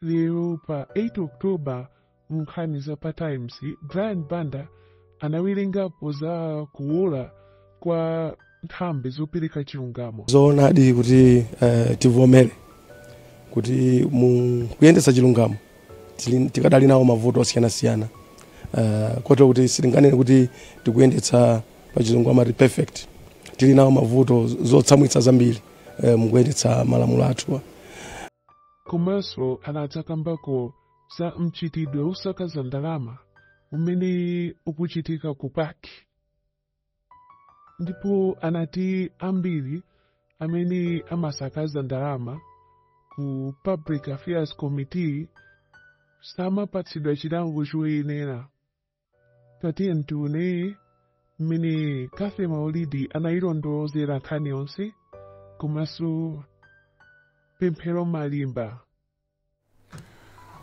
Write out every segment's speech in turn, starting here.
lero pa 8 oktoba mu nkhani za pa times brian banda anawerengapo za kuwola kwa nthambi zopereka chilungamo zoonadi kuti eh, tivomere kuti mu kuyendetsa chilungamo tili- tikadali nawo mavuto osiyanasiyana eh, kotero kuti sitinganene kuti tikuyendetsa pa chizungu amati perfect tili nawo mavuto zotsamwitsa zambiri eh, mukuyendetsa malamulo athuwa komanso anadzakambako za mchitidwe wosakaza ndalama umene ukuchitika ku PAC ndipo anati ambiri amene amasakaza ndalama ku public affairs committee samapatsidwa chilango choyenera tatiyeni tione mmene cathy maulidi anayilondolozera nkhani yonse komanso pemphero malimba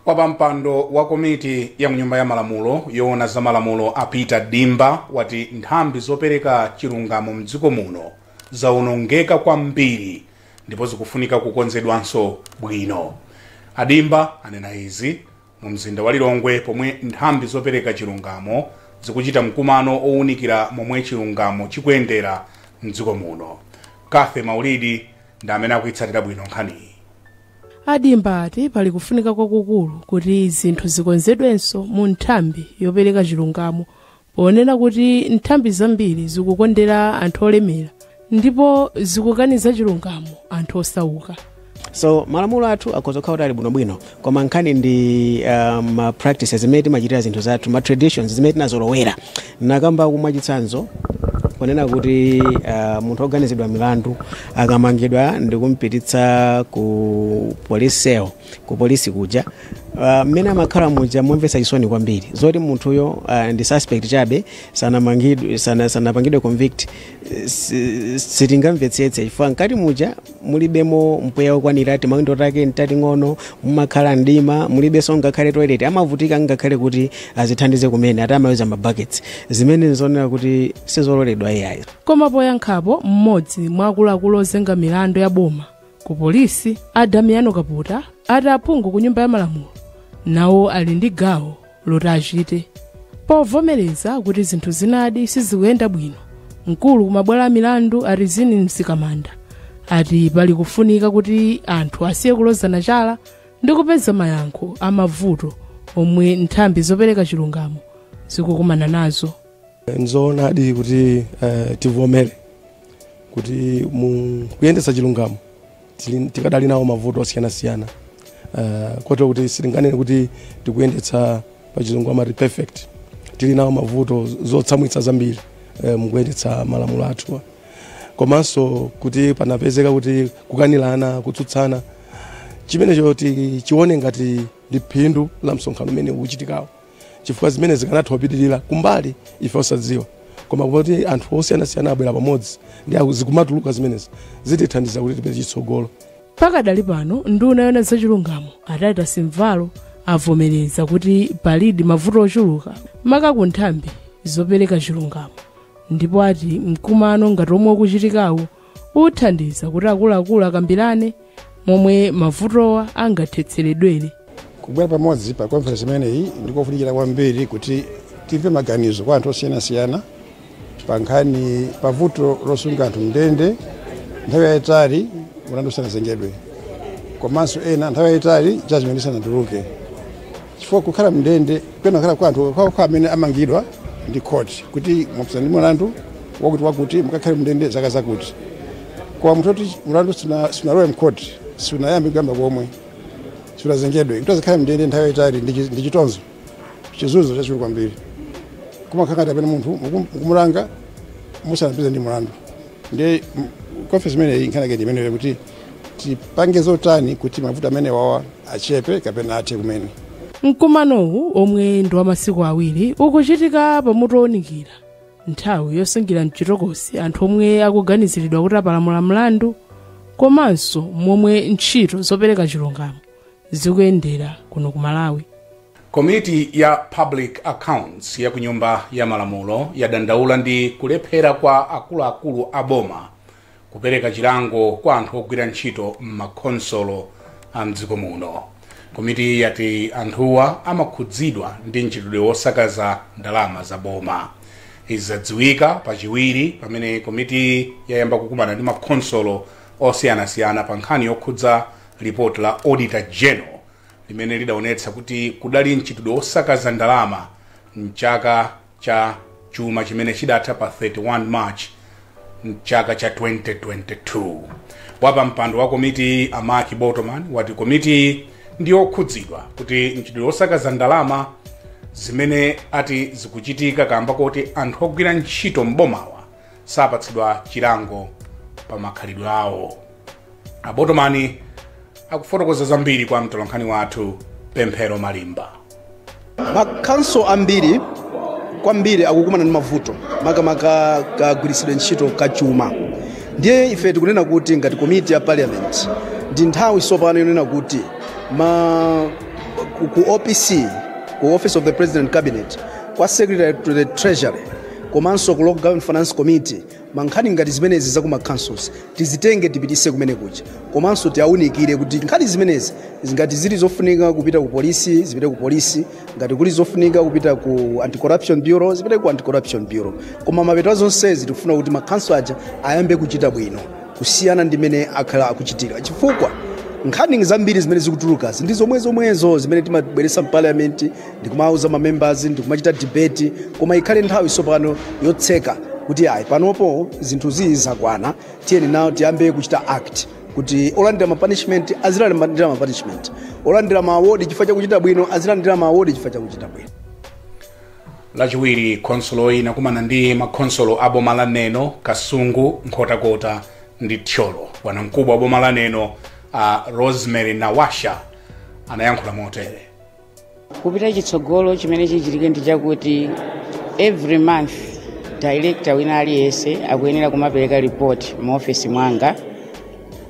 wapampando wa komiti ya mnyumba ya malamulo yoona za malamulo a peter dimba wati nthambi zopereka chilungamo mdziko muno zaonongeka kwambiri ndipo zikufunika kukonzedwanso bwino a dimba anena izi Mu mzinda wa Lilongwe pomwe nthambi zopereka chilungamo zikuchita mkumano owunikira momwe chilungamo chikuyendera m'dziko muno. Cathy Maulidi ndi amene akuyitsatira bwino nkhaniyi. A Dimba ati pali kufunika kwakukulu kuti zinthu zikonzedwenso mu nthambi yopereka chilungamo ponena kuti nthambi zambiri zikukondera anthu olemera ndipo zikukaniza chilungamo anthu osauka so malamulo athu akhoza kukhala kuti ali bwinobwino koma nkhani ndi uh, ma practices zimene timachitira zinthu zathu ma traditions zimene tinazolowera ndakamba mwachitsanzo kunena kuti uh, munthu oganizidwa milandu akamangidwa ndikumpititsa ku police cell ku polisi kuja Ah, mmene amakhala muja momvetsa chisoni kwambiri zoti munthuyo ah, ndi suspect chabe sanamangidwe sana- sanapangidwe convict eh, si- sitingamvetsetse chifukwa mkati muja mulibemo mpweya wokwanira timawindo take ntating'ono mumakhala mdima mulibenso ngakhale toilet amavutika ngakhale kuti azithandize kumene ati amaweuza mabuckets zimene nzoonera kuti sizololedwa iyayi koma poyankhapo mmodzi mwa akuluakulu ozenga milandu ya boma ku polisi a damiano kaputa ati aphungu ku nyumba ya malamulo nawo ali ndi gawo loti achite povomereza kuti zinthu zinadi sizikuyenda bwino mkulu wa mabwalo a milandu a rizine mzikamanda ati pali kufunika kuti anthu asiye kulozana chala ndi kupeza mayankho a mavuto omwe nthambi zopereka chilungamo zikukumana nazo nzoonadi kuti uh, tivomere kuti mu kuyendetsa chilungamo tili- tikadali nawo mavuto osiyanasiyana uh, kotero kuti sitinganene kuti tikuyendetsa pa chizungu amati perfect tili nawo mavuto zotsamwitsa zambiri uh, mukuyendetsa malamulo athu komanso kuti panapezeka kuti kukanirana kutsutsana chimenecho tichione ngati ndi phindu la msonkhano umene ukuchitikawu chifukwa zimene zikanatha kupitirira kumbali ife osadziwa koma kuti anthu osiyanasiyana abwera pamodzi ndi aku- zikumatuluka zimenezi zitithandiza kuti tipeze chitsogolo pakadali pano nduna yoona zachilungamo a titus mvalo avomereza kuti palidi mavuto ochuluka maka ku nthambi zopereka chilungamo ndipo ati mkumano ngati omwe ukuchitikawu uthandiza kuti akuluakulu akambirane momwe mavutowa angathetseredwere kubwera pamodzi pa conference imeneyi ndikofunikira kwambiri kuti timve maganizo kwa anthu osiyanasiyana pa nkhani pa vuto losunga anthu mndende nthawi yayitali mulandu usanazengedwe komanso ena nthawi yayitali judgment isanatuluke chifukwa kukhala mndende kumakhala kwa anthu okhaokha amene amangidwa ndi khoti kuti mwapezeka ndi mlandu wakuti wakuti mukakhale mndende zaka zakuti koma munthu oti mlandu suna- sunalowe mkhoti sunayambe kuyamba komwe sunazengedwe kuti azikhala mndende nthawi yayitali ndi chi- ndi chitonzo chizunzo chachikulu kwambiri kumakhala ngati amene munthu mukum- mukumulanga musanampeze ndi mlandu ndiye conference imeneyi nkhani yake ndi imeneyo kuti tipange zotani kuti mavuto amene wawa achepe kapena athe kumene mkumanowu omwe ndi wa masiku awiri ukuchitika pamutu owunikira nthawi yosungira mchitokosi anthu omwe akuganiziridwa kuti apalamula mlandu komanso momwe ntchito zopereka chilungamo zikuyendera kuno ku malawi Komiti ya Public Accounts ya ku Nyumba ya Malamulo yadandaula ndi kulephera kwa akuluakulu a boma kupereka chilango kwa anthu ogwira ntchito m'makhonsolo a mdziko muno. Komitiyi yati anthuwa amakhudzidwa ndi mchitidwe wosakaza ndalama za boma. Izi zadziwika pachiwiri pamene komitiyi yayamba kukumana ndi makhonsolo osiyanasiyana pa nkhani yokhudza lipoti la Auditor General limene lidaonetsa kuti kudali mchitidwe wosakaza ndalama mchaka cha chuma chimene chidatha pa 31 march mchaka cha 2022 wapampando wa komitiyi a mark botomani wati komitiyi ndi yokhudzidwa kuti mchitidwe wosakaza ndalama zimene ati zikuchitika kamba koti anthu ogwira ntchito m'bomawa sapatsidwa chilango pa makhalidwe awo a botomani akufotokoza zambiri kwa mtolankhani wathu pemphero malimba makhanso ambiri kwambiri akukumana ndi mavuto makamaka kagwiritsidwe ntchito kachuma ndiye ife tikunena kuti ngati komiti ya parliament ndi nthawi tsopano yonena kuti ma ku- ku opc ku office of the president cabinet kwa secretary to the treasury komanso ku local government finance committee mankhani ngati zimenezi za kumakhanso tizitenge tipitise kumene kuja komanso tiawunikire kuti nkhani zimenezi ngati zili zofunika kupita ku polisi zipite ku polisi ngati kuli zofunika kupita ku anti corruption bureau zipite ku anti corruption bureau koma mapeto a zonsezi tikufuna kuti makhanso aja ayambe kuchita bwino kusiyana ndi mene akhala akuchitira chifukwa nkhani zambiri zimene zikutulukazi ndi zomwezomwezo zimene timabweresa mpaliamenti ndikumauza mamembers ndikumachita debate koma ikhale nthawi sopano yotseka kuti ayi panopo zinthu ziyi zakwana tiyeni nawo tiyambe kuchita act kuti olandira mapunishment azilandira mapunishment olandira maawodi chifukwa chakuchita bwino azilandira maawodi chifukwa chakuchita bwino lachiwiri khonsoloyi inakumana ndi makhonsolo a boma la neno kasungu nkhotakota ndi thyolo bwanamkubwa wa boma la neno a rosemary nawasha anayankhula motere kupita chitsogolo chimene chichitike ndi chakuti every month director wina aliyense akuyenera kumapereka report mu office mwanga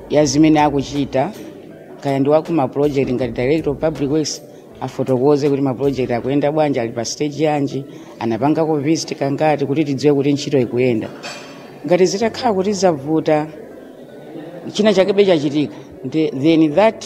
ya zimene akuchita kaya ndi waku ma project ngati director of public works afotokoze kuti ma project akuyenda bwanji ali pa stage yanji anapangako visit kangati kuti tidziwe kuti ntchito ikuyenda ngati zitakhala kuti zavuta china chakebe chachitika the- then that